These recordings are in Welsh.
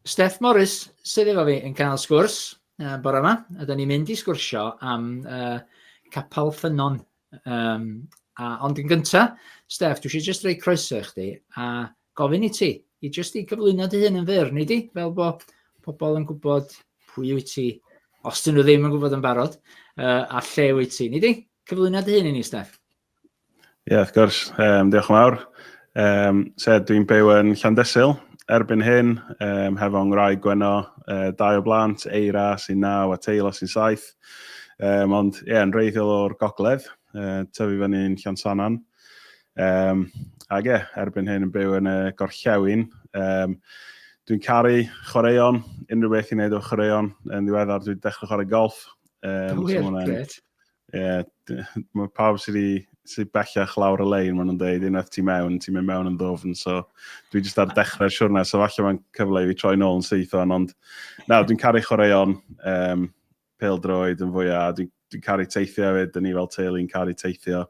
Steff Morris sydd efo fi yn cael sgwrs uh, bore yma. Ydyn ni'n mynd i sgwrsio am uh, capel ffynon. Um, a, ond yn gynta, Steff, dwi eisiau just rei croeso i chdi a gofyn i ti i just i gyflwyno dy hun yn fyr, neu di, fel bod pobl yn gwybod pwy wyt ti, os dyn nhw ddim yn gwybod yn barod, uh, a lle wyt ti. Neu di, cyflwyno dy hun i ni, Steff. Ie, yeah, wrth gwrs. Um, diolch yn fawr. Um, so, dwi'n byw yn Llandesil erbyn hyn, um, hefo ngrau gweno, uh, dau o blant, Eira sy'n naw a Teilo sy'n saith. Um, ond, ie, yeah, yn reiddiol o'r gogledd, uh, tyfu fyny yn Llansanan. Um, ac ie, yeah, erbyn hyn yn byw yn y gorllewin. Um, dwi'n caru chwaraeon, unrhyw beth i wneud o chwaraeon. Yn ddiweddar, dwi'n dechrau chwarae golf. Um, Wyr, so gret. Ie, yeah, mae pawb sydd wedi sydd bellach lawr y lein, maen nhw'n dweud, unwaith ti mewn, ti'n mynd mewn yn ddofn, so dwi jyst ar dechrau'r siwrna, so falle mae'n cyfle i fi troi nôl yn syth o'n, ond nawr, dwi'n caru chwaraeon, um, pel droed yn fwyaf, dwi'n dwi caru teithio hefyd, dyn ni fel teulu yn caru teithio,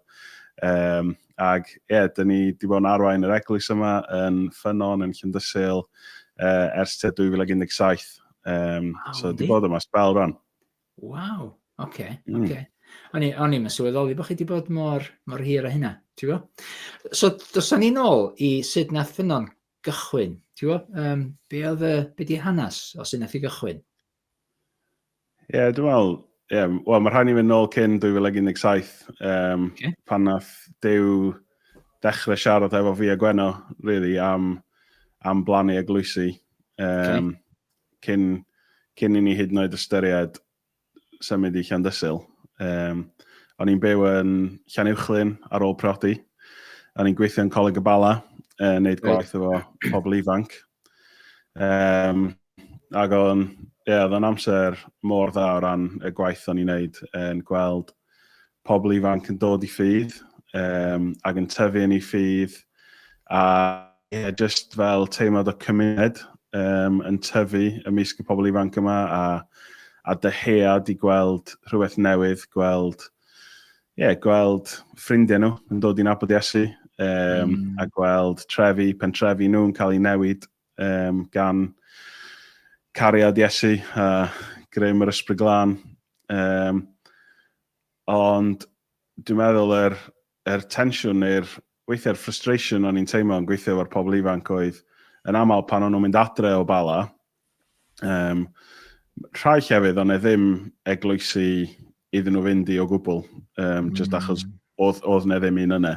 um, ag ie, yeah, dyn ni wedi bod yn arwain yr eglwys yma yn ffynon, yn Llyndysil, uh, ers te 2017, um, oh, so wedi bod yma spel rhan. Waw! Oce, mm. oce. O'n i, o'n i'n sylweddoli bod chi wedi bod mor, mor hir o hynna, ti'n bo? So, dos o'n i'n ôl i sut nath ffynon gychwyn, ti'n bo? Um, be oedd y, be di hanes o sut nath i gychwyn? Ie, yeah, dwi'n meddwl, yeah, well, mae rhaid i fynd ôl cyn 2017, um, okay. pan nath dew dechrau siarad efo fi a Gwenno, really, am, am blannu eglwysi. Um, okay. cyn, cyn i ni hyd yn oed ystyried symud i Llandysul. Um, o'n i'n byw yn Llanuwchlyn ar ôl prodi. O'n i'n gweithio yn Coleg y Bala, uh, wneud gwaith efo pobl ifanc. Um, ac o'n, ie, yeah, oedd o'n amser mor dda o ran y gwaith o'n i'n wneud yn gweld pobl ifanc yn dod i ffydd um, ac yn tyfu yn ei ffydd a yeah, just fel teimlad o cymuned um, yn tyfu ymysg y pobl ifanc yma a, a dyhead i gweld rhywbeth newydd, gweld, yeah, gweld ffrindiau nhw yn dod i'n abod Iesu um, mm. a gweld trefi, pentrefi nhw'n cael ei newid um, gan cariad Iesu a greu yr ysbryd glân. Um, ond dwi'n meddwl yr, yr tensiwn neu'r weithiau'r frustration o'n i'n teimlo yn gweithio efo'r pobl ifanc oedd yn aml pan o'n nhw'n mynd adre o bala, um, rhai llefydd ond e ddim eglwysi iddyn nhw fynd i o gwbl, um, mm. just achos oedd, oedd ne ddim un yna.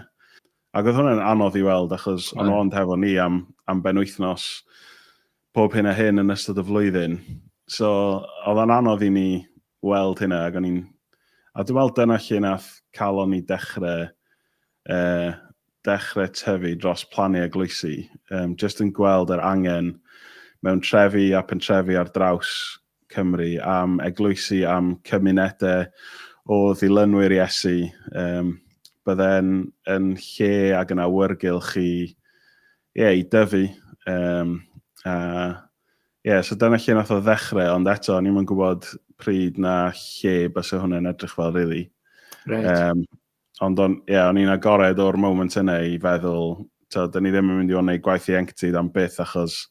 Ac oedd hwnna'n anodd i weld achos o'n nhw ond hefo ni am, am ben wythnos pob hyn a hyn yn ystod y flwyddyn. So oedd o'n anodd i ni weld hynna ac o'n i'n... A dwi'n meddwl dyna lle nath calon ni dechrau, uh, dechrau tyfu dros plannu a gloesi. Um, just yn gweld yr angen mewn trefi a pentrefi ar draws Cymru, am eglwysi, am cymunedau o ddilynwyr Iesu. Um, Bydde'n yn lle ag yn awyrgylch i, yeah, i dyfu. Um, a, yeah, so dyna lle nath o ddechrau, ond eto, ni'n mynd gwybod pryd na lle bys hwnna'n edrych fel, really. Right. Um, Ond o'n, ie, o'n i'n agored o'r moment yna i feddwl, tywed, da ni ddim yn mynd i fod yn gwneud gwaith ieuenctid am byth achos,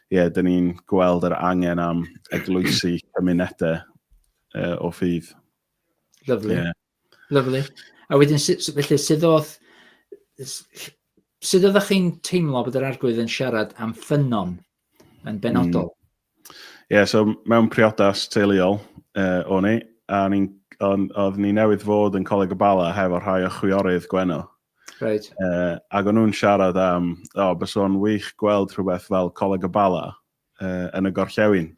ie, yeah, da ni'n gweld yr angen am eglwysi cymunedau uh, o ffydd. Lyflu. Yeah. Lyflu. A wedyn, felly, sydd oedd, sydd oedd chi'n teimlo bod yr arglwydd yn siarad am ffynon yn benodol. Mm. Ie, yeah, so mewn priodas teuluol uh, o'n i, a ni'n oedd ni newydd fod yn Coleg y Bala hefo rhai o chwiorydd Gwenno. Right. Uh, ac o'n nhw'n siarad am, o, oh, bys o'n wych gweld rhywbeth fel Coleg y Bala uh, yn y gorllewin.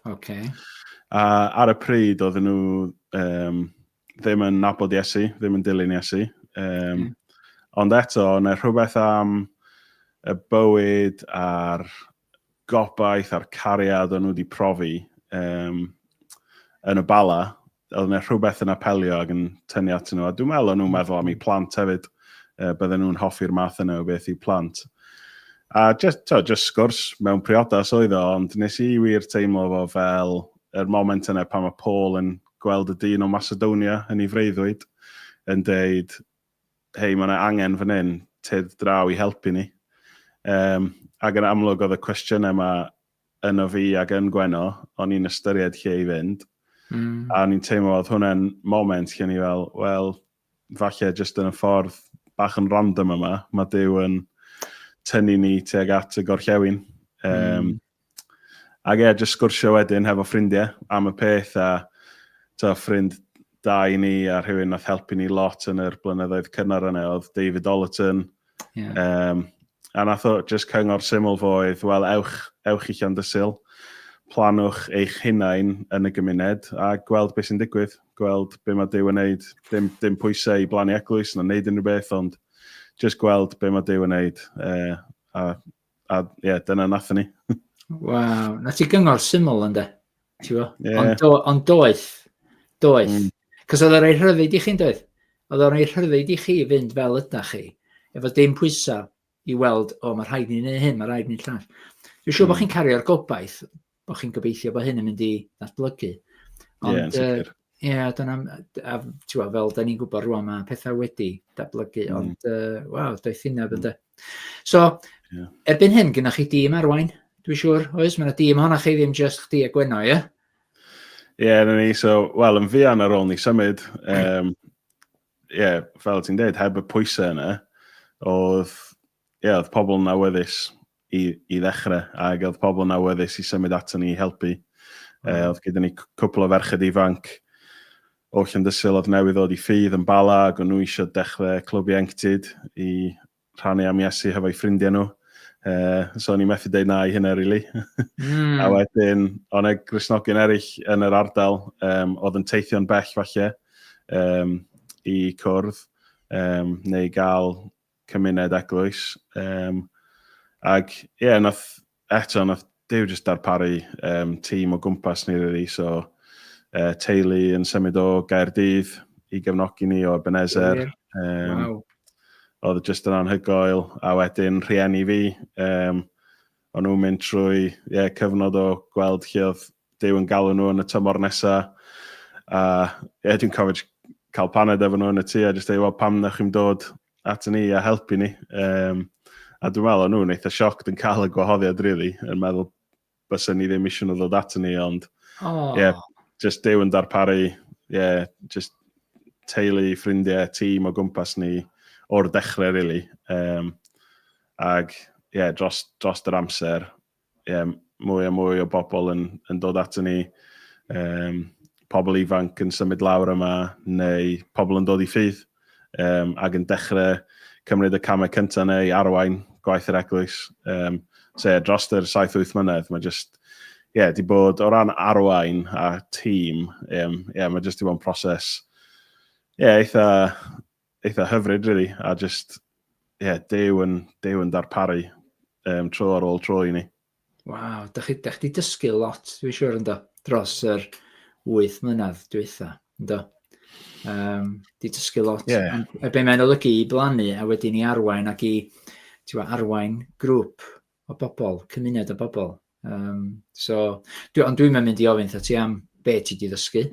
Ok. A ar y pryd oedd nhw um, ddim yn nabod Iesu, ddim yn dilyn Iesu. Um, mm. Ond eto, yna rhywbeth am y bywyd a'r gobaith a'r cariad o'n nhw wedi profi um, yn y bala, Oedd yna rhywbeth yn apelio ac yn tynnu atyn nhw, a dwi'n meddwl o'n nhw'n meddwl am eu plant hefyd, uh, bydden nhw'n hoffi'r math yna o beth i'w plant. A just, to, just sgwrs mewn priodas oedd o, ond nes i wir teimlo fo fel yr er moment yna pan mae Paul yn gweld y dyn o Macedonia yn ei freuddwyd, yn deud, hei, mae yna angen fan hyn, tyd draw i helpu ni. Um, ac yn amlwg oedd y cwestiynau yma yno fi ac yn Gwenno, o'n i'n ystyried lle i fynd, a o'n i'n teimlo oedd hwnna'n moment lle o'n i fel, wel, falle jyst yn y ffordd bach yn random yma, mae Duw yn tynnu ni tuag at y gorllewin. Um, mm. Ac e, jyst sgwrsio wedyn hefo ffrindiau am y peth a to, ffrind da i ni a rhywun nath helpu ni lot yn yr blynyddoedd cynnar yna oedd David Ollerton. Yeah. Um, A nath o jyst cyngor syml fo oedd, wel ewch, ewch i Llandysul, plannwch eich hunain yn y gymuned a gweld be sy'n digwydd, gweld be ma Duw yn neud, dim dim pwyse i blannu eglwys na neud unrhyw beth ond jyst gweld be ma Duw yn neud yy a a ie dyna nathon ni. Waw, 'na ti gyngor syml ynde? Ti'n yeah. Ond do, on doeth. Doeth. Mm. Cos oedd o'n rhoi rhyddid i chi'n doedd? Oedd o'n rhoi rhyddid i chi fynd fel yda chi, efo dim pwysau i weld, o, mae rhaid ni'n neud hyn, mae rhaid ni'n llall. Dwi'n siŵr mm. bod chi'n cario'r gobaith, bod chi'n gobeithio bod hyn yn mynd i ddatblygu. Ond, yeah, uh, Ie, dyna m- a tibod fel dan ni'n gwybod rŵan mae pethau wedi datblygu mm. ond uh, waw, doedd hynna mm. So, yeah. erbyn hyn gynnwch chi dîm arwain, dwi'n siŵr, oes? Mae'n dîm honna chi ddim just chdi a Gwenno, ie? Yeah? Ie, yeah, ni, so, wel, yn fuan ar ôl ni symud, ie, um, yeah, fel ti'n dweud, heb y pwysau yna, oedd, ie, yeah, oedd pobl yn awyddus i i ddechrau, ac oedd pobl yn awyddus i symud ato ni i helpu. Mm. Uh, oedd gyda ni cwpl o ferched ifanc o Llandysil oedd newydd ddod i ffydd yn Bala ac o'n nhw eisiau dechrau clwb ieuenctid i rhannu am Iesu hefo'i ffrindiau nhw. Uh, so ni'n methu dweud na i hynna, really. Mm. a wedyn, o'n e grisnogyn eraill yn yr ardal, um, oedd yn teithio'n bell falle, um, i cwrdd, um, neu gael cymuned eglwys. Um, ac ie, yeah, nath, eto, nath Dew jyst darparu um, tîm o gwmpas ni, really. So, uh, teulu yn symud o Gaerdydd i gefnogi ni o Ebenezer. Um, wow. Oedd jyst yn anhygoel. A wedyn rhieni fi, um, o'n nhw'n mynd trwy yeah, cyfnod o gweld lle oedd Dyw yn galw nhw yn y tymor nesaf. A ie, dwi'n cofio cael paned efo nhw yn y tu a jyst dweud, wel, pam na chi'n dod at ni a helpu ni. Um, a dwi'n meddwl, o'n nhw'n eitha sioc yn cael y gwahoddiad, really, yn meddwl bys ni ddim eisiau nhw ddod at ni, ond oh. yeah, just dew yn darparu, yeah, just teulu, ffrindiau, tîm o gwmpas ni o'r dechrau, really. Um, ag, yeah, dros, dros yr amser, ie, mwy a mwy o bobl yn, yn dod ato ni, um, pobl ifanc yn symud lawr yma, neu pobl yn dod i ffydd, um, ac yn dechrau cymryd y camau cyntaf neu arwain gwaith yr eglwys. Um, so, ie, dros yr 7-8 mlynedd, mae jyst, ie, yeah, di bod o ran arwain a tîm, ie, um, yeah, mae jyst di bod yn proses, ie, yeah, eitha eitha hyfryd, really, a just, ie, yeah, dew yn, dew yn darparu um, tro ar ôl tro i ni. Waw, da chi, da chi dysgu lot, dwi'n siŵr ynddo, dros yr wyth mlynedd dwytha, ynddo? Um, di dysgu lot. Yeah. A be mae'n olygu i blannu a wedyn i arwain ac i arwain grŵp o bobl, cymuned o bobl. Um, so, dwi, ond dwi'n mynd i ofyn ti am be ti di ddysgu.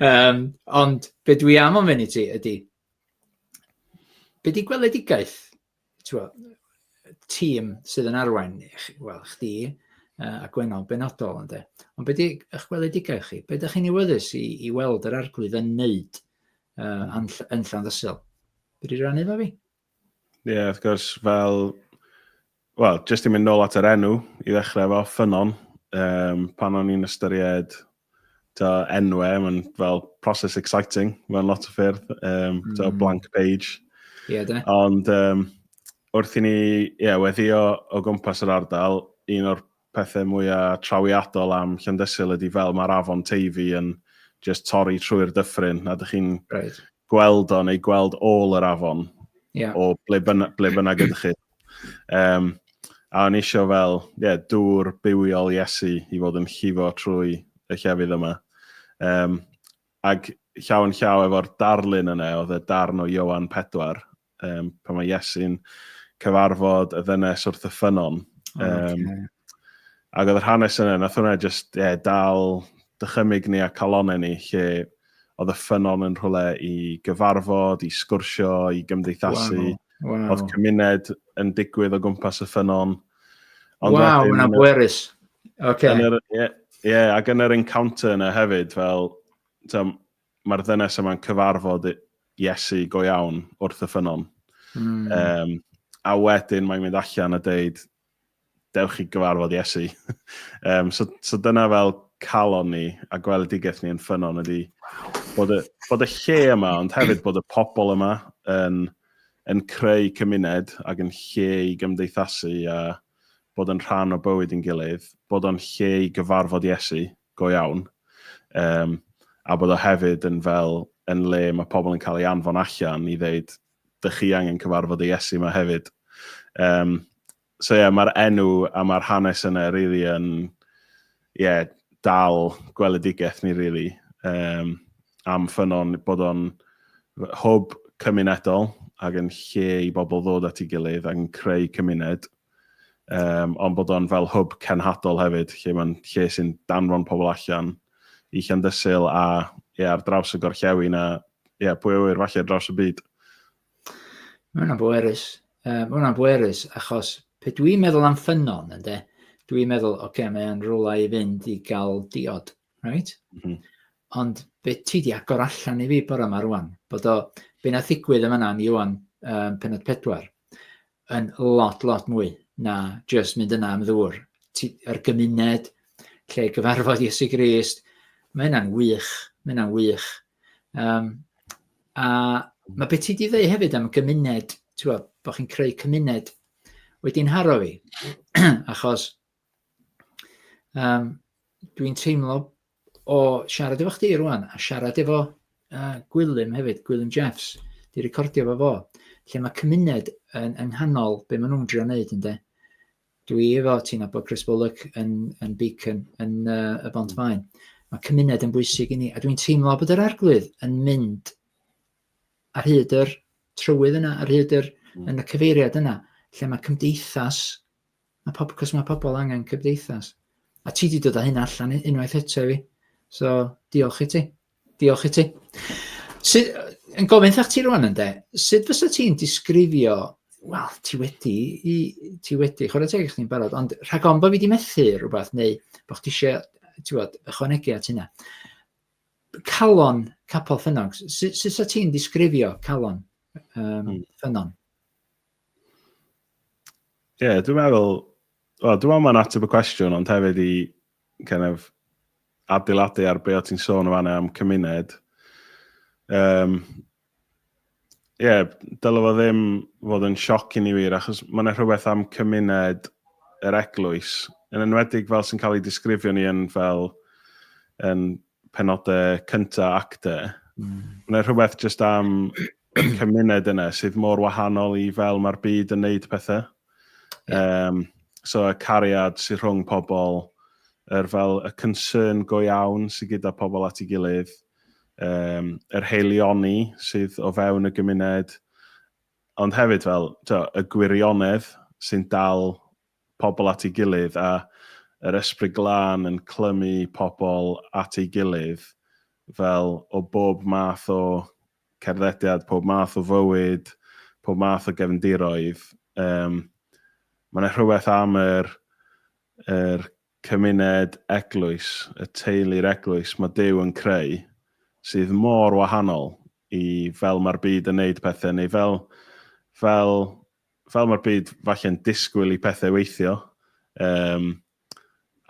um, ond be dwi am ofyn i ti ydy, be di gweledigaeth tîm sydd yn arwain, wel, chdi uh, a Gwenol benodol, ynddo. Ond be di eich gweledigaeth chi? Be ydych chi'n iwyddus i, i weld yr arglwydd yn wneud uh, yn, yn Llanddysil? Be di rannu fo fi? Ie, yeah, wrth gwrs, fel... Wel, jyst i mynd nôl at yr enw, i ddechrau fo, ffynon, um, pan o'n i'n ystyried ta enwau, mae'n fel process exciting, mae'n lot o ffyrdd, um, mm. ta blank page. Ie, yeah, da. Ond um, wrth i ni, ie, yeah, weddio o gwmpas yr ardal, un o'r pethau mwya trawiadol am Llandysul ydi fel mae'r afon Teifi yn just torri trwy'r dyffryn a dych chi'n right. gweld o neu gweld ôl yr afon yeah. o ble, byna, ble bynnag ydych chi. Um, a o'n eisiau fel yeah, dŵr bywiol Iesu i fod yn llifo trwy y llefydd yma. Um, ac llaw yn llaw efo'r darlun yna, oedd y darn o Iowan 4, um, pan mae Iesu'n cyfarfod y ddynes wrth y ffynon. Um, okay. Ac oedd yr hanes yna, nath hwnna just yeah, dal dychymig ni a calonau ni, lle oedd y ffynon yn rhywle i gyfarfod, i sgwrsio, i gymdeithasu. Wow. Wow. Oedd cymuned yn digwydd o gwmpas y ffynon. Ond wow, yna bwerus. Okay. Ie, yeah, yeah, ac yn yr encounter yna hefyd, fel, tam, mae'r ddynes yma'n cyfarfod Iesu go iawn wrth y ffynnon. Mm. Um, a wedyn mae'n mynd allan a dweud, dewch chi gyfarfod Iesu. um, so, so dyna fel calon ni a gweledigaeth ni yn ffynnon ydy bod y, bod y lle yma, ond hefyd bod y pobl yma yn, yn creu cymuned ac yn lle i gymdeithasu a bod yn rhan o bywyd yn gilydd, bod o'n lle i gyfarfod Iesu. go iawn, um, a bod o hefyd yn fel yn le mae pobl yn cael ei anfon allan i ddeud, dych chi angen cyfarfod y Iesu yma hefyd. Um, so ie, yeah, mae'r enw a mae'r hanes yna rili really yn, ie, yeah, dal gweledigaeth ni rili. Really. Um, am ffynon bod o'n hwb cymunedol ac yn lle i bobl ddod at ei gilydd ac yn creu cymuned. um, ond bod o'n fel hwb cenhadol hefyd, lle mae'n lle sy'n danfon pobl allan i Llandysil a ia, ar draws y gorllewin a ia, pwy o wyr falle draws y byd. Mae hwnna'n bwerus. Uh, mae hwnna'n bwerus achos pe dwi'n meddwl am ffynon, ynddo, dwi'n meddwl, oce, okay, mae'n rhywle i fynd i gael diod. Right? Mm -hmm. Ond be ti di agor allan i fi bore yma rwan, bod o, be na ddigwydd yn fanna ni o'n um, penod pedwar, yn lot, lot mwy na just mynd yna am ddŵr. Yr gymuned, lle gyfarfod Iesu Grist, mae hynna'n wych, mae hynna'n wych. Um, a mae beth ti wedi dweud hefyd am gymuned, ti'n bod, bod chi'n creu cymuned, wedi'n haro fi, achos Um, dwi'n teimlo o siarad efo chdi rwan, a siarad efo uh, Gwilym hefyd, Gwilym Jeffs, di recordio fo fo, lle mae cymuned yn, yng nghanol be maen nhw'n drio wneud ynddo. Dwi efo ti'n abod Chris Bullock yn, yn Beacon, yn uh, y Bont Faen. Mae cymuned yn bwysig i ni, a dwi'n teimlo bod yr arglwydd yn mynd ar hyd yr trywydd yna, ar hyd yr, mm. yn y cyfeiriad yna, lle mae cymdeithas a pob cos mae pobl angen cymdeithas a ti di dod â hyn allan unwaith eto i fi so diolch i ti diolch i ti sydd yn gofyn thach ti rwan ynde sydd fysa ti'n disgrifio wel ti wedi i ti wedi chwarae teg i chdi'n barod ond rhag ond bod fi wedi methu rhywbeth neu bod chdi eisiau ti'n bod ychwanegu at hynna calon capel ffynnog sut sa ti'n disgrifio calon um, hmm. ffynnon Ie, yeah, dwi'n meddwl, well, dwi'n meddwl mae'n ateb y cwestiwn, ond hefyd i kind of, adeiladu ar be o ti'n sôn o fanna am cymuned. Um, Ie, yeah, dylai fo ddim fod yn sioc i ni wir, achos mae'n yna rhywbeth am cymuned yr eglwys, yn enwedig fel sy'n cael ei disgrifio ni yn fel yn penodau cyntaf acte. Mm. Mae'n rhywbeth just am y cymuned yna sydd mor wahanol i fel mae'r byd yn neud pethau. Yeah. Um, so y cariad sydd rhwng pobl, yr fel y concern go iawn sydd gyda pobl at ei gilydd, um, yr heilioni sydd o fewn y gymuned, ond hefyd fel to, y gwirionedd sy'n dal pobl at ei gilydd a yr Ysbryd Glân yn clymu pobl at ei gilydd fel o bob math o cerddediad, pob math o fywyd, pob math o gefndiroedd. Um, Mae yna rhywbeth am yr, yr cymuned eglwys, y teulu'r eglwys mae Dyw yn creu sydd mor wahanol i fel mae'r byd yn neud pethau neu fel, fel fel mae'r byd falle'n disgwyl i pethau weithio. Um,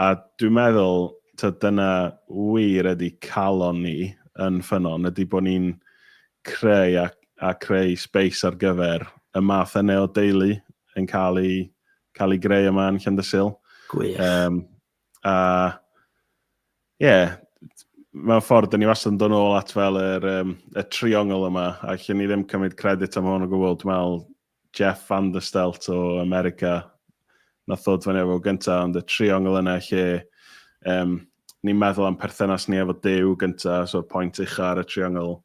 a dwi'n meddwl, ta, dyna wir ydy calon ni yn ffynon, ydy bod ni'n creu a, a creu space ar gyfer y math yna o deulu yn cael ei, cael ei greu yma yn Llandysil. Gwych. Um, A, ie, yeah, mewn ffordd, dyn ni wastad yn dod nôl at fel yr, um, y triongl yma, a lle ni ddim cymryd credit am hwn o gwbl, dwi'n meddwl Jeff Van der Stelt o America, na thod fan efo gyntaf, ond y triongl yna lle um, ni'n meddwl am perthynas ni efo Dyw gyntaf, so'r pwynt ucha ar y triongl,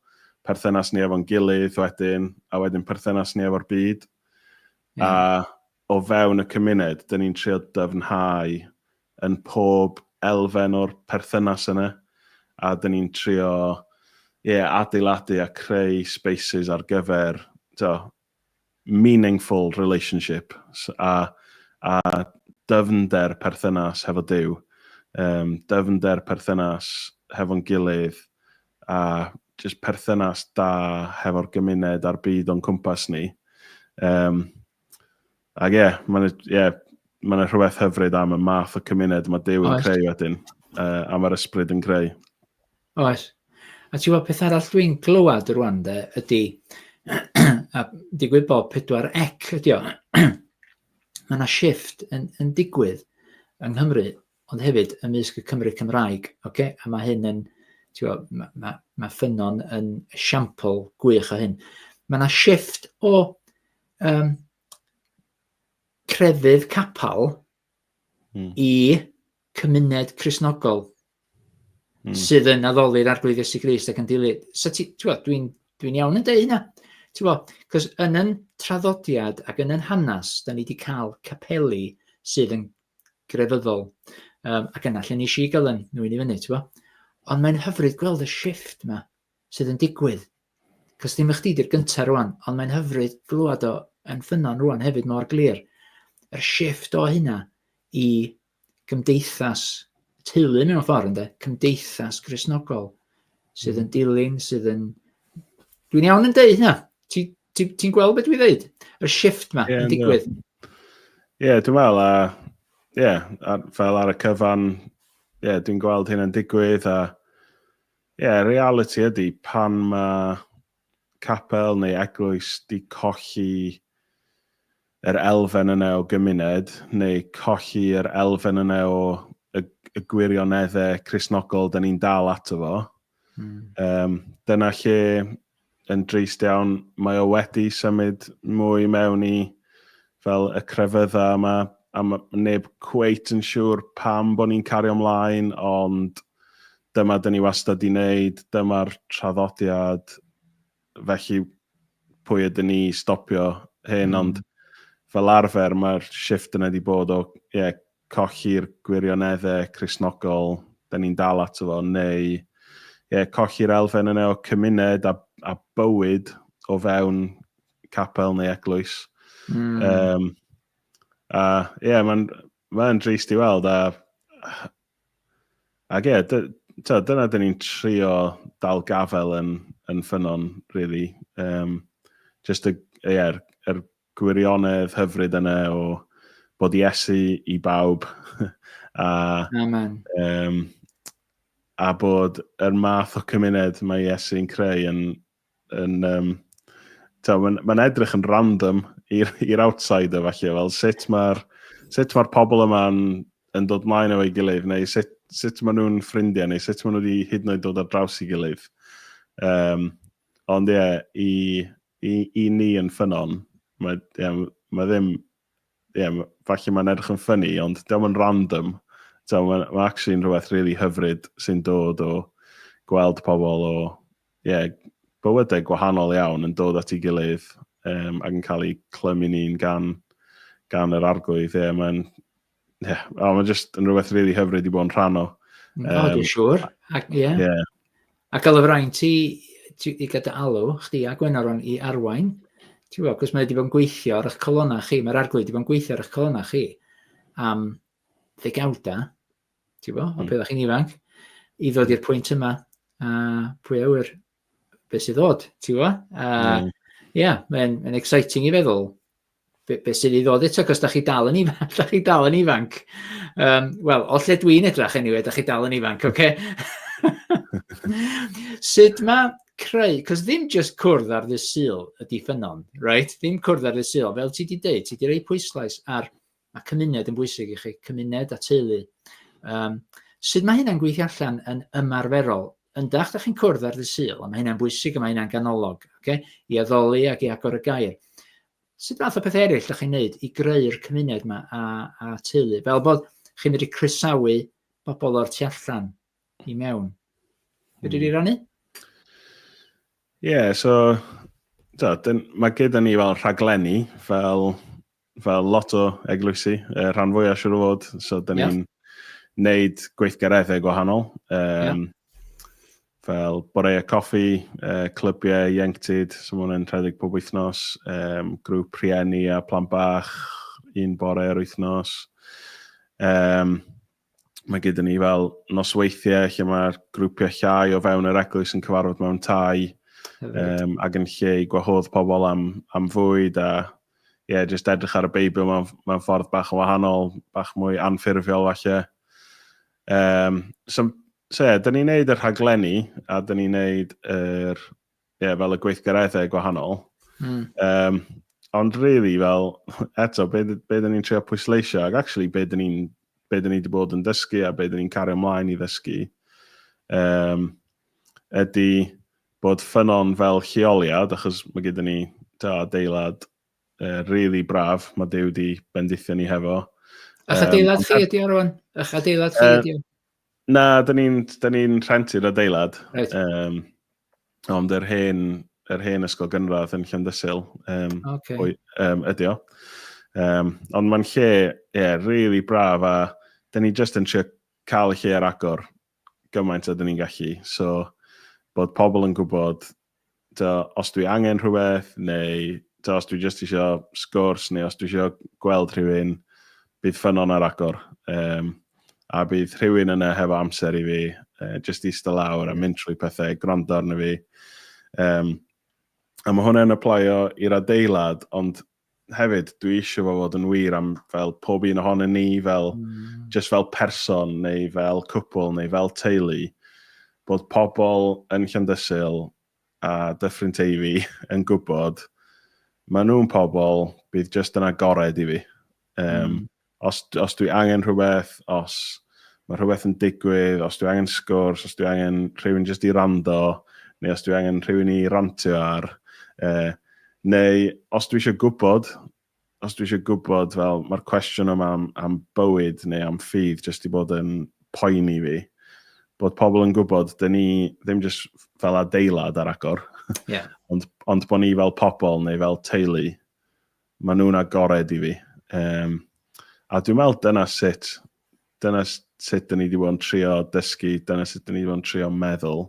perthynas ni efo'n gilydd wedyn, a wedyn perthynas ni efo'r byd. Mm. A o fewn y cymuned, dan ni'n trio dyfnhau yn pob elfen o'r perthynas yna, a dan ni'n trio ie, adeiladu a creu spaces ar gyfer to, meaningful relationship a, a dyfnder perthynas hefo Duw, um, dyfnder perthynas hefo'n gilydd, a just perthynas da hefo'r gymuned a'r byd o'n cwmpas ni. Um, Ac ie, yeah, mae'n yeah, ma rhywbeth hyfryd am y math o cymuned mae Dew yn creu wedyn, uh, a mae'r ysbryd yn creu. Oes. A ti'n gwybod peth arall dwi'n glywed rwan de, ydy, a digwydd bod pedwar ec ydy o, mae yna shift yn, yn digwydd yng Nghymru, ond hefyd ymysg y Cymru Cymraeg, okay? a mae hyn yn, gwybod, mae, ma, ma ffynon yn siampl gwych o hyn. Mae yna shift o um, crefydd capel hmm. i cymuned Cresnogol hmm. sydd yn addoli'r Arglwydd Iesu Grist ac yn dilyd. So ti, ti dwi'n dwi iawn yn dweud hynna. Ti bo, cos yn yn traddodiad ac yn yn hanes, da ni wedi cael capeli sydd yn grefyddol. Um, ac yna, lle ni si gael yn nhw'n i fyny, ti'n Ond mae'n hyfryd gweld y shift yma. sydd yn digwydd. Cos ddim y chdi di'r gynta rwan, ond mae'n hyfryd glywed o yn ffynnon rwan hefyd mor glir. Yr shift o hynna i gymdeithas teulu mewn ffordd ynde, cymdeithas grisnogol sydd yn hmm. dilyn, sydd yn... Dwi'n iawn yn deud hynna. Ti'n ti, ti gweld beth dwi'n dweud? Y shift ma yeah, yn digwydd. Ie, yeah, dwi'n meddwl, a, yeah, fel ar y cyfan, yeah, dwi'n gweld hyn yn digwydd, a Ie, y realiti ydy, pan mae capel neu eglwys 'di colli yr elfen yna o gymuned, neu colli yr elfen yna o y, y gwirioneddau Cristnogol 'da ni'n dal ato fo, mm. um, dyna lle yn drist iawn, mae o wedi symud mwy mewn i fel y crefydda yma, a mae neb cweit yn siŵr pam bod ni'n cario mlaen, ond dyma dyn ni wastad di wneud, dyma'r traddodiad, felly pwy ydyn ni stopio hyn, mm. ond fel arfer mae'r shift yna wedi bod o yeah, colli'r gwirioneddau Cristnogol dan ni'n dal ato fo, neu ie, colli'r elfen yna o cymuned a, a bywyd o fewn capel neu eglwys. Mm. Um, a ie, yeah, mae'n ma drist i weld, a, a ie, yeah, so, dyna dyn ni'n trio dal gafel yn, yn ffynon, really. Um, just y, yeah, er, er Gwirionedd hyfryd yna o bod Iesu i bawb a, Amen. Um, a bod yr math o cymuned mae Iesu'n creu yn, yn um, mae'n ma edrych yn random i'r outsider falle, fel sut mae'r sut mae'r pobl yma'n yn dod mlaen efo'i gilydd, neu sut, sut maen nhw'n ffrindiau, neu sut maen nhw wedi hyd yn oed dod ar draws i gilydd. Um, ond ie, yeah, i I, i ni yn ffynon, mae, yeah, mae ddim, yeah, falle mae'n edrych yn ffynnu, ond diolch yn random. So, mae'n ma actually yn rhywbeth really hyfryd sy'n dod o gweld pobl o yeah, bywydau gwahanol iawn yn dod at ei gilydd um, ac yn cael ei clymu ni'n gan, gan yr arglwydd. Yeah, mae'n Ie, yeah. oh, mae'n just yn rhywbeth rili really hyfryd i bod yn rhan o. Um, o, dwi'n siŵr. Ac, yeah. yeah. Ac alw rhain ti, ti i gyda alw, chdi a Gwenaron i arwain. Ti'n gwybod, cos mae wedi bod yn gweithio ar eich colonna chi, mae'r arglwydd wedi bod yn gweithio ar eich colonna chi am ddegawda, ti'n gwybod, o mm. beth chi'n ifanc, i ddod i'r pwynt yma, a pwy awyr, beth sydd ddod, ti'n gwybod? A mm. yeah, mae'n ma exciting i feddwl beth be sydd i ddod eto, cos da chi dal yn ifanc, da chi dal yn ifanc. Um, Wel, o lle dwi'n edrach anyway, da chi dal yn ifanc, oce? Okay? Sut mae creu, cos ddim just cwrdd ar ddydd syl ydy ffynon, right? Ddim cwrdd ar ddydd syl, fel ti wedi dweud, ti wedi rhoi pwyslais ar Mae cymuned yn bwysig i chi, cymuned a teulu. Um, sut mae hynna'n gweithio allan yn ymarferol? Yndach, da chi'n cwrdd ar ddydd syl, a mae hynna'n bwysig a mae hynna'n ganolog, okay? i addoli ac i agor y gair. Sut fath o beth eraill da chi'n neud i greu'r cymuned yma a, a teulu? Fel bod chi'n medru croesawu bobl o'r tu allan i mewn. Fyddi di hmm. rannu? Ie, yeah, so da, dyn, mae gyda ni fel rhaglenni, fel fel lot o eglwysi, uh, rhan fwyaf siwr o fod, so da ni'n yeah. neud gweithgareddau gwahanol. Um, yeah. Fel boreau coffi, uh, clybiau ieuenctid, so mae hwnna'n rhedeg pob wythnos, um, grŵp rhieni a plan bach, un bore ar wythnos. Um, mae gyda ni fel nosweithiau lle mae'r grwpiau llai o fewn yr eglwys yn cyfarfod mewn tai um, ac yn lle i gwahodd pobl am, am fwyd a ie, yeah, jyst edrych ar y Beibl mewn, mewn ffordd bach yn wahanol, bach mwy anffurfiol falle. Um, so, so ie, yeah, dyn ni'n neud y rhaglenni a dyn ni'n neud yr Ie, fel y gweithgareddau gwahanol. Mm. Um, ond really, fel, eto, be, be dyn ni'n trio pwysleisio, ac actually, be dyn ni'n be dyn ni wedi bod yn dysgu a be dyn ni'n cario ymlaen i ddysgu, um, ydy bod ffynon fel lleoliad, achos mae gyda ni ta, adeilad uh, really braf, mae Dew wedi bendithio ni hefo. A'ch adeilad um, chi ydi o rwan? A'ch adeilad chi ydi o? Na, da ni'n ni rhentu'r adeilad. Right. Um, ond yr hen, yr hen ysgol gynradd yn Llandysil um, okay. o'i, um, ydi o. Um, ond mae'n lle, ie, yeah, really braf a da ni just yn trio cael y lle ar agor gymaint a da ni'n gallu. So, bod pobl yn gwybod tibod, os dwi angen rhywbeth, neu tibod, os dwi jyst isio sgwrs, neu os dwi isio gweld rhywun, bydd ffynnon ar agor. Um, a bydd rhywun yna hefo amser i fi, uh, jyst eistedd lawr a mynd trwy pethau, gwrando arno fi. Um, a mae hwnna'n aplaio i'r adeilad, ond hefyd, dwi eisiau fo fod yn wir am fel pob un ohonyn ni, fel, mm. just fel person, neu fel cwpl, neu fel teulu, bod pobl yn Llandysil a Dyffryn Teifi yn gwybod, maen nhw'n pobl, bydd just yn agored i fi. Um, mm. Os, os dwi angen rhywbeth, os mae rhywbeth yn digwydd, os dwi angen sgwrs, os dwi angen rhywun jyst i rando, neu os dwi angen rhywun i rantio ar, eh, neu os dwi eisiau gwybod, os dwi eisiau gwybod, fel, mae'r cwestiwn yma am, am bywyd neu am ffydd jyst i bod yn poeni fi, bod pobl yn gwybod, dyn ni ddim jyst fel adeilad ar agor, yeah. ond, ond bod ni fel pobl neu fel teulu Maen nhw'n agored i fi. Um, a dwi'n meddwl dyna sut, dyna sut dyn ni wedi bod yn trio dysgu, dyna sut dyn ni wedi bod yn trio meddwl,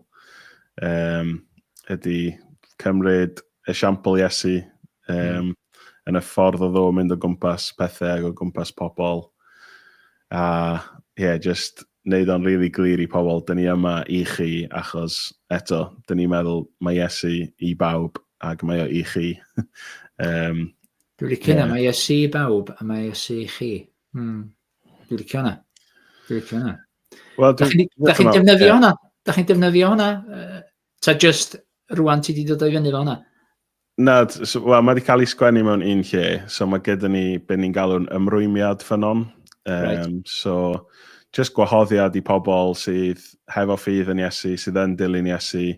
um, ydy cymryd esiampl Iesu um, mm. yn y ffordd o ddo mynd o gwmpas pethau ac o gwmpas pobl. A ie, yeah, just neud o'n rili glir i pobl, dyn ni yma i chi achos, eto, dyn ni'n meddwl mae Iesu i bawb ac mae o i chi. um, Dwi'n licio yeah. na, mae Iesu i bawb a mae Iesu i chi. Mm. Dwi'n licio na. Dwi'n licio na. Wel, da chi'n chi defnyddio hwnna? Da chi'n defnyddio hwnna? Uh, ta just rwan ti wedi dod o'i fyny fel hwnna? Na, so, well, mae wedi cael ei sgwennu mewn un lle, so mae gyda ni beth ni'n galw'n ymrwymiad ffynon. Um, right. So, just gwahoddiad i pobl sydd hefo ffydd yn Iesu, sydd yn dilyn Iesu,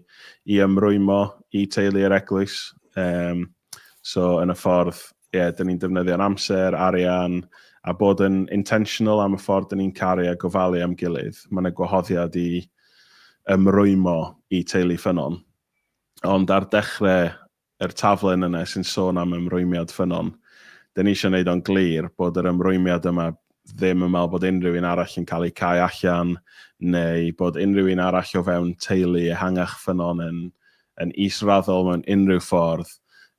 i ymrwymo i teulu yr eglwys. Um, so, yn y ffordd, ie, yeah, dyn ni'n defnyddio'n amser, arian, a bod yn intentional am y ffordd dyn ni'n caru a gofalu am gilydd. Mae'n yna gwahoddiad i ymrwymo i teulu ffynon. Ond ar dechrau yr taflen yna sy'n sôn am ymrwymiad ffynnon, dyn ni eisiau wneud o'n glir bod yr ymrwymiad yma ddim yn meddwl bod unrhyw un arall yn cael eu cau allan neu bod unrhyw un arall o fewn teulu ehangach ffynnon yn yn israddol mewn unrhyw ffordd,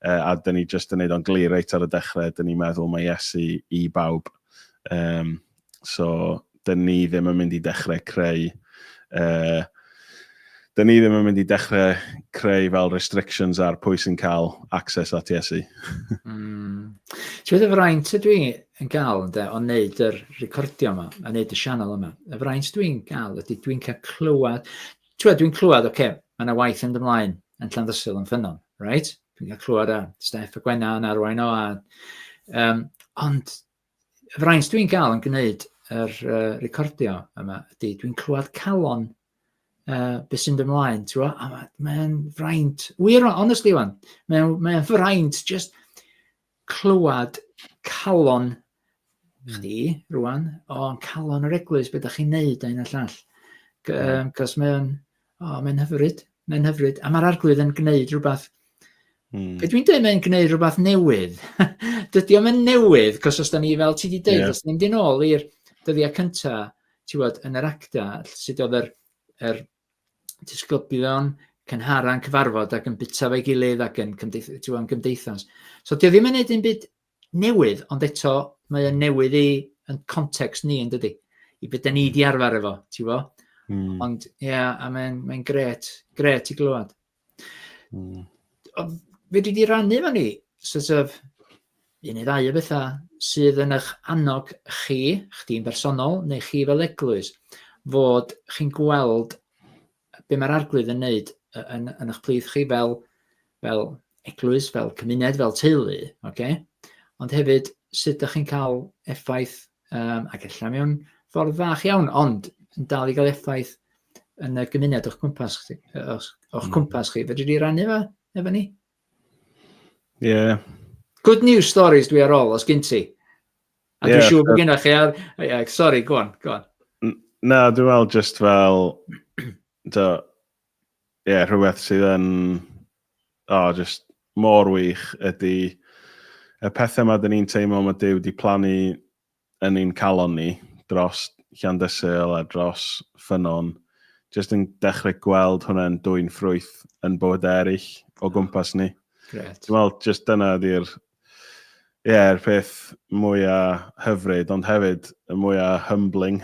uh, a dyn ni jyst yn wneud o'n glir reit ar y dechrau, dyn ni'n meddwl mae Iesu i bawb. Um, So, dyn ni ddim yn mynd i dechrau creu... Uh, dyn ni ddim yn mynd i dechrau creu fel restrictions ar pwy sy'n cael access at Iesu. mm. Ti'n meddwl, fraint ydw i yn gael ynde, o wneud yr recordio yma, a wneud y sianel yma. Y fraint dw i'n gael ydy dwi'n cael clywed, ti'n dwi'n clywed, oce, okay, mae yna waith yn ymlaen yn Llanddysil yn ffynnon, right? Dwi'n cael clywed a Steph a Gwenna yn arwain o, a, um, ond y fraint dwi'n gael yn gwneud yr uh, recordio yma ydy, dwi'n clywed calon uh, beth sy'n dy mlaen, ti'n gwybod? A mae'n mae fraint, wir, honestly wan, mae'n mae fraint just clywed calon hmm. chdi rwan, o'n calon yr eglwys, beth ydych chi'n neud a hyn a llall. Cos mae'n O, mae'n hyfryd, mae'n hyfryd. A mae'r arglwydd yn gwneud rhywbeth... Mm. Be dwi'n dweud, mae'n gwneud rhywbeth newydd. Dydy o'm yn newydd, cos os da ni, fel ti wedi dweud, yeah. os da ni'n dyn ôl i'r dyddiau cyntaf, ti bod, yn yr acta, sut oedd yr, yr disgyblion cynhara'n cyfarfod ac yn bita fe gilydd ac yn, cymdeith, yn gymdeithas. So, dio ddim yn neud un byd newydd, ond eto mae o'n newydd i yn context ni yn dydy, i beth da ni wedi hmm. arfer efo, ti'n fo? Mm. Ond ie, yeah, a mae'n mae gret, gret i glywed. Mm. Ond fe dwi wedi rannu fan ni, sort of, un neu ddau o bethau sydd yn eich annog chi, chdi'n bersonol, neu chi fel eglwys, fod chi'n gweld be mae'r arglwydd yn wneud yn, yn eich plith chi fel, fel eglwys, fel cymuned, fel teulu, okay? ond hefyd sut ydych chi'n cael effaith, um, ac efallai mewn ffordd fach iawn, ond yn dal i gael effaith yn y gymuned o'ch cwmpas chi, o'ch, o'ch hmm. cwmpas chi. Fedri di rannu fe efo ni? Ie. Yeah. Good news stories dwi ar ôl, os gyn ti. A dwi'n siŵr bod gennych chi, a, sorry, go on, go on. Na, dwi'n meddwl just fel, do, ie, yeah, rhywbeth sydd yn, o, oh, just mor wych ydy y pethau mae dyn ni'n teimlo mae Dyw wedi plannu yn ein calon ni dros Llandysil a dros Ffynon, just yn dechrau gweld hwnna'n dwy'n ffrwyth yn bywydau eraill o gwmpas ni. Gret. Dwi'n meddwl, just dyna ydy'r Ie, yr peth mwya hyfryd, ond hefyd y mwya humbling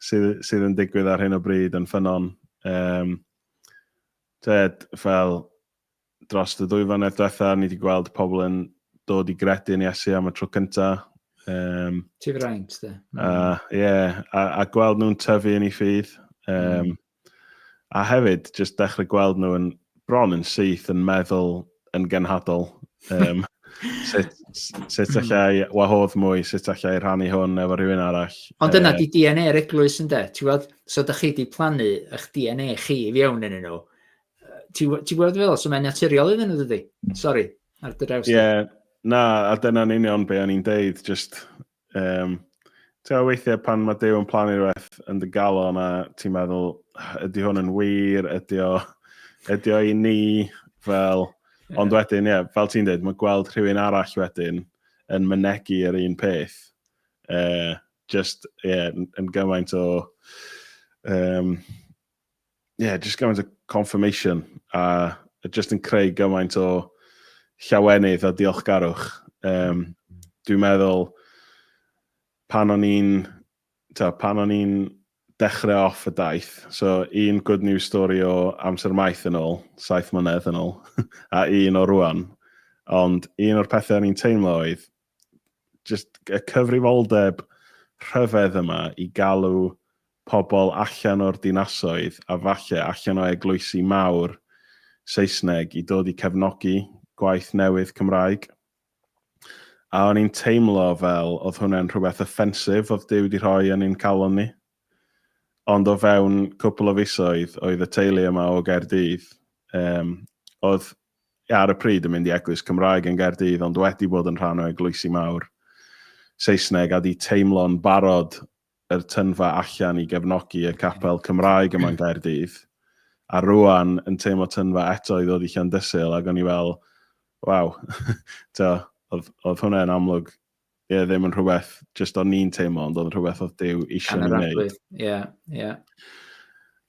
sydd sydd yn digwydd ar hyn o bryd yn Ffynnon. Yym, t'wod, fel dros y dwy flynedd diwetha, ni wedi gweld pobl yn dod i gredu yn Iesu am y tro cynta. Um, Ti fraint, de. A, ie, a a gweld nhw'n tyfu yn ei ffydd. Um, A hefyd, jyst dechrau gweld nhw yn bron yn syth yn meddwl yn genhadol. Um, sut, sut hmm. allai wahodd mwy, sut allai rhannu hwn efo rhywun arall. Ond dyna uh, di DNA yr eglwys yn de. Ti'n gweld, so da chi di plannu eich DNA chi i fiewn yn nhw. Ti'n gweld fel, so mae'n naturiol iddyn nhw, dydy? Sorry, ar dy draws. Ie, yeah, na, a dyna'n union be o'n i'n deud, just Um, Ti'n weithiau pan mae Dew yn plannu rhywbeth yn dy galon a ti'n meddwl, ydy hwn yn wir, ydy o, ydy o i ni, fel, ond wedyn, ie, yeah, fel ti'n dweud, mae gweld rhywun arall wedyn yn mynegu yr un peth, uh, just, ie, yeah, yn gymaint o, um, yeah, just gymaint o confirmation a just yn creu gymaint o llawenydd a diolchgarwch. Um, dwi'n meddwl pan o'n i'n pan o'n i'n dechrau off y daith, so un good news story o amser maith yn ôl, saith mlynedd yn ôl, a un o rwan. Ond un o'r pethau o'n i'n teimlo oedd, just y cyfrifoldeb rhyfedd yma i galw pobl allan o'r dinasoedd a falle allan o eglwysi mawr Saesneg i dod i cefnogi gwaith newydd Cymraeg. A o'n i'n teimlo fel oedd hwnna'n rhywbeth offensif oedd Duw wedi rhoi yn ein calon ni. Ond o fewn cwpl o fisoedd oedd y teulu yma o Gaerdydd, um, oedd ar y pryd yn mynd i eglwys Cymraeg yn Gaerdydd ond wedi bod yn rhan o eglwysi mawr Saesneg a 'di teimlo'n barod yr tyndfa allan i gefnogi y capel Cymraeg yma yn Gaerdydd a rwan yn teimlo tyndfa eto i ddod i Llandysul ag o'n i fel waw t'o' o'dd o'dd hwnna yn amlwg ie, ddim yn rhywbeth jyst o'n ni'n teimlo, ond o'n rhywbeth oedd Dyw eisiau ni wneud. Ie, ie.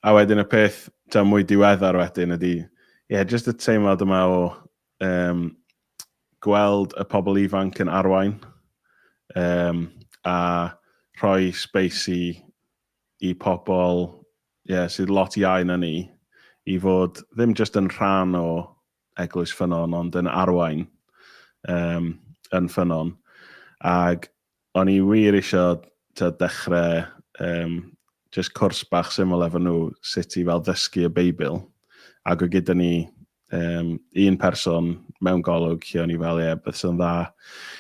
A wedyn y peth ta mwy diweddar wedyn ydy, ie, yeah, jyst y teimlad yma o um, gweld y pobl ifanc yn arwain um, a rhoi space i, i pobl yeah, sydd lot iau na ni i fod ddim jyst yn rhan o eglwys ffynon, ond yn arwain um, yn ffynon. Ac o'n i wir eisiau ta, dechrau um, just cwrs bach syml efo nhw sut i fel ddysgu y Beibl. Ac o gyda ni um, un person mewn golwg lle o'n i fel, ie, yeah, beth sy'n dda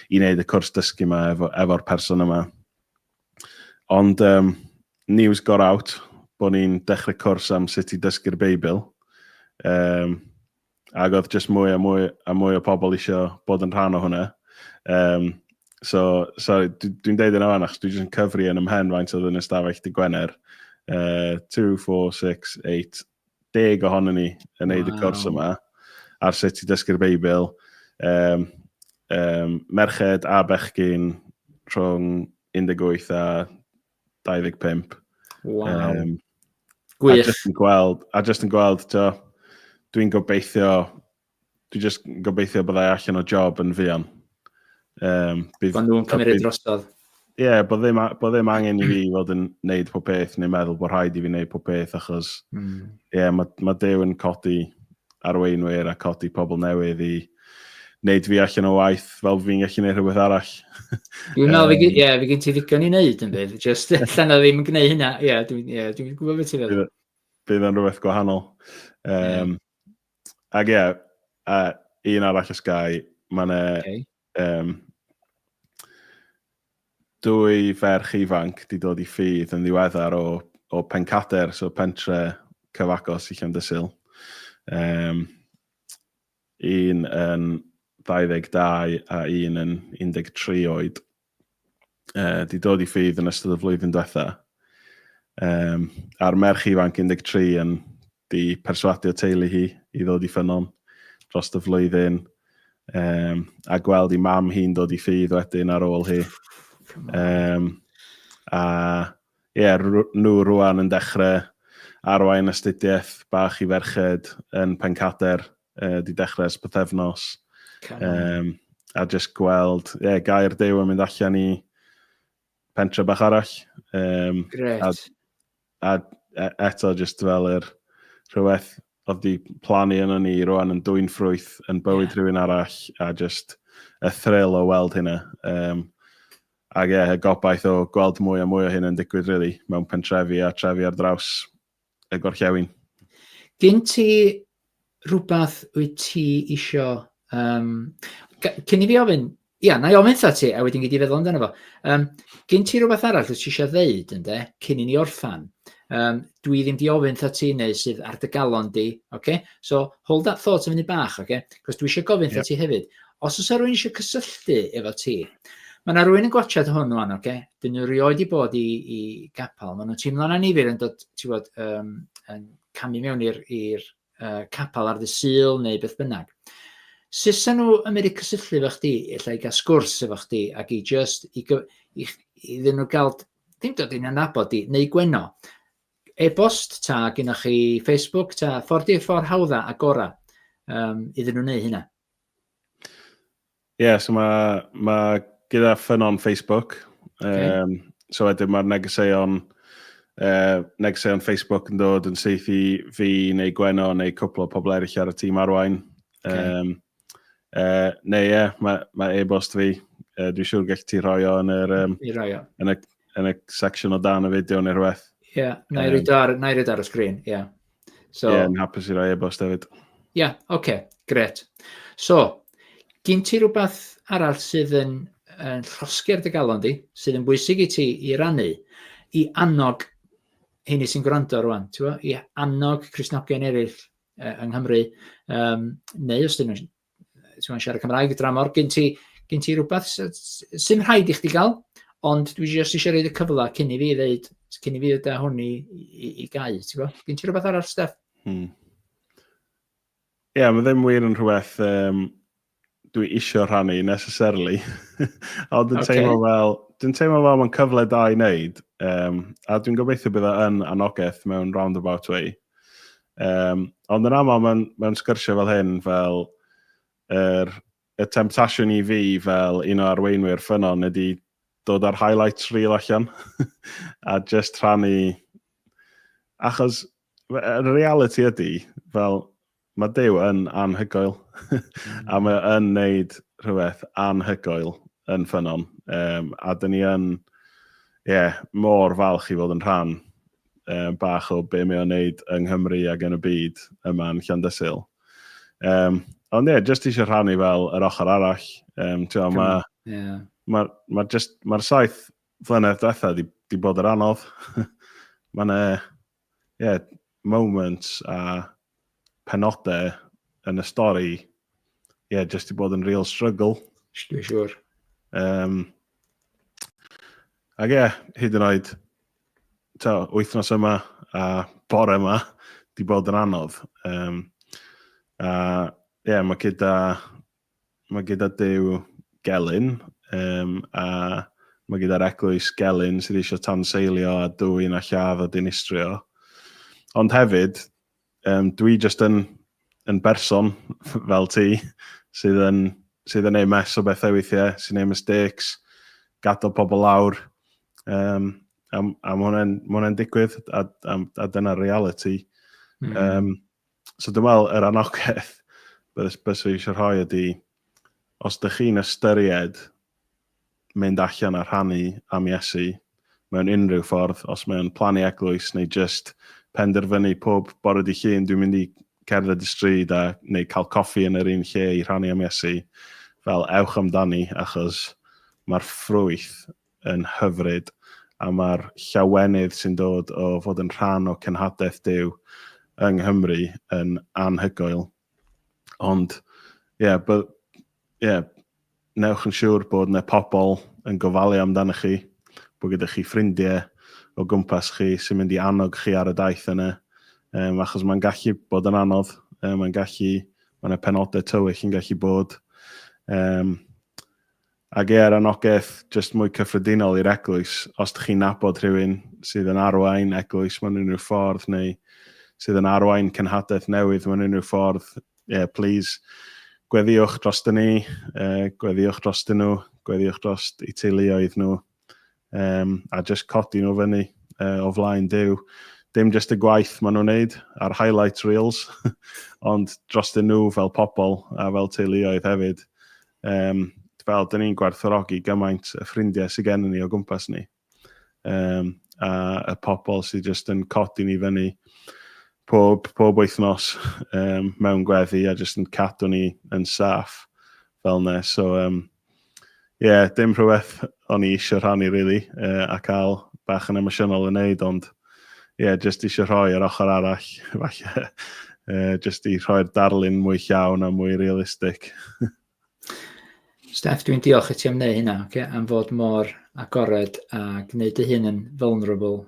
i wneud y cwrs dysgu yma efo, efo'r person yma. Ond um, news got out bod ni'n dechrau cwrs am sut i dysgu'r Beibl. Um, ac oedd jyst mwy a mwy a mwy o pobl eisiau bod yn rhan o hwnna. Um, so, sorry, dwi'n deud yna fan, achos dwi'n jyst yn cyfri yn ymhen faint oedd yn ystafell dy Gwener. Uh, 2, 4, 6, 8, deg ohono ni yn neud wow. y cwrs yma, ar sut i dysgu'r Beibl, um, um, merched a bechgyn rhwng 18 a 25. Wow. Um, Gwych. A just yn gweld, a just yn gweld, to, dwi'n gobeithio Dwi just yn gobeithio byddai allan o job yn fuan. Um, bydd, Ond nhw'n cymryd drosodd. Ie, yeah, bod ddim, bo ddim angen i fi fod yn neud pob peth neu meddwl bod rhaid i fi neud pob peth achos mm. yeah, mae ma Dew yn codi arweinwyr a codi pobl newydd i wneud fi allan o waith fel fi'n gallu gwneud rhywbeth arall. Dwi'n meddwl, um, ie, fi gen ti ddigon i wneud yn bydd, just allan o ddim yn gwneud hynna, ie, dwi'n yeah, dwi gwybod beth ti'n feddwl. Bydd yn rhywbeth gwahanol. Um, yeah. Ac ie, uh, un arall y Sky, mae'n e... Okay. Um, dwy ferch ifanc di dod i ffydd yn ddiweddar o, o Pencader, so pentre cyfagos i Llandysil. Um, un yn 22 a un yn 13 oed. uh, di dod i ffydd yn ystod y flwyddyn diwetha. Um, a'r merch ifanc 13 yn di perswadio teulu hi i ddod i ffynon dros y flwyddyn. Um, a gweld i mam hi'n dod i ffydd wedyn ar ôl hi. Um, a ie, yeah, nhw rwan yn dechrau arwain astudiaeth bach i ferched yn Pencader uh, di dechrau ers bythefnos. Um, a just gweld, ie, yeah, gair dew yn mynd allan i pentre bach arall. Um, Gret. A, a e, eto just fel yr rhywbeth oedd di plannu yna ni rwan yn dwy'n ffrwyth yn bywyd yeah. rhywun arall a just y thrill o weld hynna. Um, ac ie, yeah, y gobaith o gweld mwy a mwy o hyn yn digwydd, really, mewn pentrefi a trefi ar draws y gorllewin. Gyn ti rhywbeth wyt ti isio... Um, cyn i fi ofyn, ia, na i ofyn tha ti, a wedyn gyd i feddwl amdano fo. Um, gyn ti rhywbeth arall wyt ti eisiau ddeud, ynddo, cyn i ni orffan. Um, dwi ddim di ofyn tha ti neu sydd ar dy galon di, okay? so hold that thought yn fyny bach, okay? cos dwi eisiau gofyn yep. ti hefyd, Os oes rhywun eisiau cysylltu efo ti, mae yna rhywun yn gwachod hwn o'n, oce? Okay? Dyn nhw rioed i bod i, i gapel. Mae nhw'n teimlo'n anifir yn dod, ti'n bod, um, yn camu mewn i'r uh, capel ar ddysil neu beth bynnag. Sesa nhw yn mynd i cysylltu efo chdi, efallai gael sgwrs efo chdi, ac i just, i, i, i ddyn nhw gael, ddim dod i'n anabod di, neu gweno. E-bost ta, gynnwch chi Facebook ta, ffordd i'r ffordd hawdda a gora um, iddyn nhw wneud hynna. Ie, yeah, so mae ma gyda ffynon Facebook. Okay. Um, so wedyn mae'r negeseuon, uh, negeseuon Facebook yn dod yn syth i fi neu Gweno neu cwpl o pobl eraill ar y tîm arwain. Okay. Um, uh, neu ie, yeah, mae ma e-bost fi. Uh, Dwi'n siŵr gallu ti rhoi o yn yr... Um, I roi o. Yn y, yn y section o dan y fideo neu rhywbeth. Ie, yeah, na i roed ar, y sgrin, ie. Yeah. So, yeah, yn hapus i roi e-bost hefyd. Ie, yeah, oce, okay, gret. So, gyn ti rhywbeth arall sydd yn, yn llosger dy galon di, sydd yn bwysig i ti i rannu, i annog hynny sy'n gwrando rwan, i annog Crisnogion eraill uh, yng Nghymru, um, neu os dyn nhw'n ti'n mwyn siarad Cymraeg y dramor, gen ti, gen ti rhywbeth sy'n rhaid i chdi gael, ond dwi jyst eisiau rhaid y cyfle cyn i fi ddeud, cyn i fi ddeud hwn i, i, i gau, ti'n gwybod? Gen ti rhywbeth arall, Steph? Hmm. Ie, yeah, mae ddim wir yn rhywbeth um, dwi isio rhannu necessarily. Ond dwi'n okay. teimlo fel, dwi'n teimlo fel mae'n cyfle da i wneud, um, a dwi'n gobeithio bydd yn anogaeth mewn roundabout way, Um, ond yn aml mae'n ma sgyrsiau fel hyn, fel er, y temptasiwn i fi fel un o arweinwyr ffynon ydy dod ar highlights reel allan a just rhannu achos y reality ydy fel Mae Duw yn anhygoel a mae o yn wneud rhywbeth anhygoel yn ffynnon. Um, a dyn ni yn, ie, yeah, mor falch i fod yn rhan um, bach o be mae o'n wneud yng Nghymru ac yn y byd yma yn Llandysil. Um, ond ie, yeah, jyst eisiau rhannu fel yr ochr arall. Um, Mae'r ma, yeah. ma, ma ma saith flynedd diwethaf di, di bod yr anodd. Mae'n e, ie, moments a penodau yn y stori, ie, jyst i bod yn real struggle. Dwi'n siwr. Um, ac ie, hyd yn oed, ta, wythnos yma a bore yma, di bod yn anodd. Um, a ie, yeah, mae gyda Mae gyda Duw gelyn, um, a mae gyda'r eglwys gelyn sydd eisiau tanseilio a dwy'n a lladd a dinistrio. Ond hefyd, um, dwi jyst yn, yn berson fel ti sydd yn, sydd yn ei mes o bethau weithiau, sy'n ei mistakes, gadael pobl lawr. Um, a, a mae hwnna'n hwnna digwydd, a, a, a dyna'r reality. Mm. Um, So dwi'n meddwl, yr anogaeth beth be sy'n eisiau rhoi ydy, os ydych chi'n ystyried mynd allan a rhannu am Iesu mewn unrhyw ffordd, os mewn plannu eglwys neu jyst penderfynu pob bore di llun dwi'n mynd i cerdded y stryd a neu cael coffi yn yr un lle i rhannu am Iesu, fel ewch amdani achos mae'r ffrwyth yn hyfryd, a mae'r llawenydd sy'n dod o fod yn rhan o cenhadaeth Duw yng Nghymru yn anhygoel. Ond, ie, yeah, but, yeah, newch yn siŵr bod yna pobl yn gofalu amdano chi, bod gyda chi ffrindiau o gwmpas chi sy'n mynd i annog chi ar y daith yna, um, achos mae'n gallu bod yn anodd, um, mae'n gallu, mae'n penodau tywyll yn gallu bod, um, Ac ie, yr anogaeth jyst mwy cyffredinol i'r eglwys, os dych chi'n nabod rhywun sydd yn arwain eglwys mewn unrhyw ffordd neu sydd yn arwain cenhadaeth newydd mewn unrhyw ffordd, ie, yeah, please, gweddiwch dros dyn ni, uh, gweddiwch dros dyn nhw, gweddiwch dros eu teuluoedd nhw. um, a just codi nhw fyny uh, o flaen dew. Dim just y gwaith maen nhw'n neud a'r highlight reels, ond dros dyn nhw fel pobl a fel teuluoedd hefyd. Um, fel, dyn ni'n gwerthorogi gymaint y ffrindiau sydd gen ni o gwmpas ni. Um, a y pobl sydd just yn codi ni fyny pob, pob wythnos um, mewn gweddi a just yn cadw ni yn saff fel ne. So, um, Ie, yeah, dim rhywbeth o'n i eisiau rhannu, really, uh, a cael bach yn emosiynol yn neud, ond ie, yeah, jyst eisiau rhoi ar ochr arall, falle, uh, jyst i rhoi'r darlun mwy llawn a mwy realistig. Steph, dwi'n diolch i ti am wneud hynna, okay? am fod mor agored a gwneud dy hun yn vulnerable